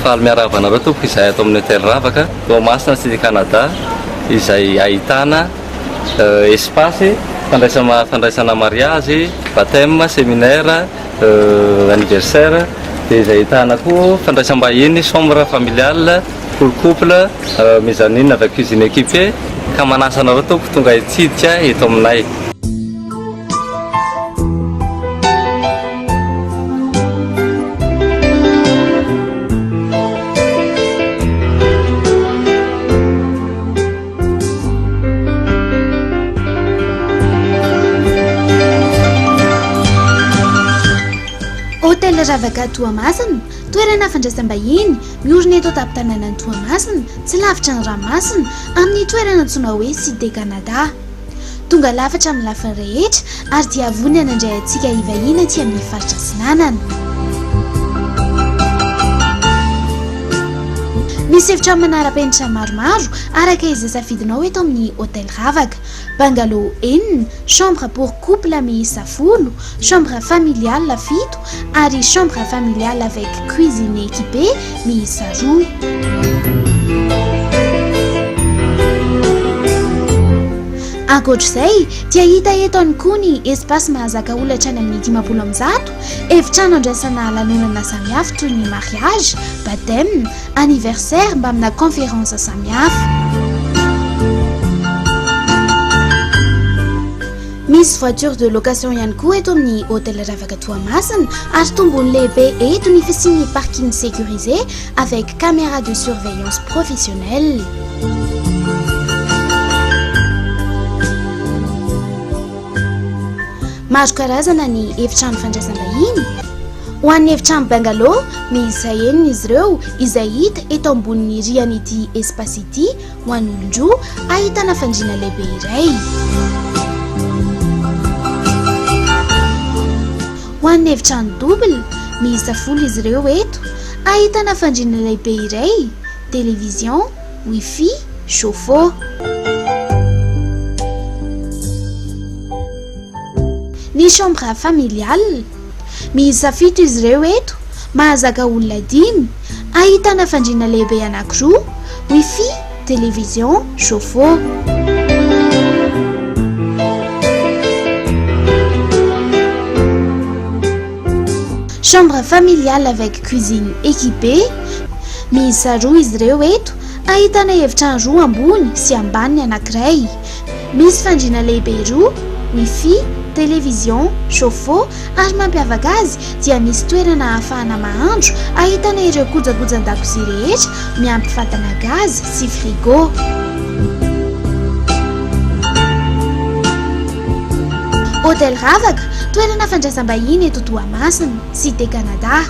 Faly miarahaba anareo tompoko izay ato amin'ny hôtel Ravaka Toamasina Cité Canada izay ahitana euh, espace fandraisana fandraisana mariage, baptême, séminaire, euh, anniversaire dia izay ahitana koa fandraisam-bahiny, chambre familiale Pour couple, mezzanine avec cuisine équipée, ka manasa anareo tompoko tonga hitsidika eto aminay. Hotel Ravaka Toamasina, toerana fandraisam-bahiny. Miorina eto an-tampon-tanànan'i Toamasina, tsy lavitra ny ranomasina, amin'ny toerana antsoina hoe Cité Canada. Tonga lafatra amin'ny lafiny rehetra ary dia vonona nandray antsika hivahiny aty amin'ny faritra Atsinanana. Misy efitra manara-penitra maromaro araka izay safidinao eto amin'ny Hotel Ravaka. Bungalow enina, chambre pour couple miisa folo, chambre familiale fito ary chambre familiale avec cuisine équipée miisa roa. Ankoatra izay dia hita eto ihany koa ny espace mahazaka olona hatrany amin'ny dimampolo amby zato, efitrano andraisana lanonana samihafa toy ny mariage, baptême, anniversaire mbamina conférence samihafa. Misy voiture de location ihany koa eto amin'ny Hôtel Ravaka Toamasina ary tombony lehibe eto ny fisian'ny parking sécurisé avec caméra de surveillance professionnelle. Maro karazana ny efitrano fandraisam-bahiny. Ho an'ny efitrano bungalow miisa enina izy ireo izay hita eto ambonin'ny rihanaity espace ity ho an'olon-droa ahitana fandriana lehibe iray. Ho an'ny efitrano double miisa folo izy ireo eto ahitana fandriana lehibe iray, television, wifi, chauffe-eau. Ny chambre familiale. Miisa fito izy ireo eto, mahazaka olona dimy, ahitana fandriana lehibe anankiroa, wifi, television, chauffe-eau. Chambre familiale avec cuisine équipée, miisa roa izy ireo eto, ahitana efitrano roa ambony sy ambany ny anankiray. Misy fandriana lehibe roa, Wifi, Television, Chaufeau, ary mampiavaka azy dia misy toerana ahafahana mahandro ahitana ireo kojakojan-dakozia rehetra miampy fatana gaz sy frigo. Hôtel Ravaka, toerana fandraisam-bahiny eto Toamasina, Cité Canada.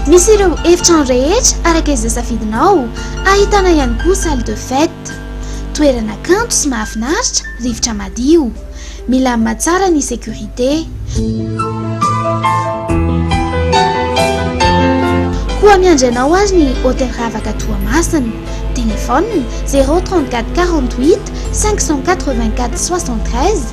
Misy ireo efitrano rehetra araka izay safidinao, ahitana ihany koa salle de fête. Art. Toerana kanto sy mahafinaritra, rivotra madio. Milamina tsara ny sécurité. Koa miandry anao ary ny Hotel Ravaka Toamasina. Téléphone, zéro trente-quatre quarante-huit cinq cent quatre-vingt-quatre soixante-treize.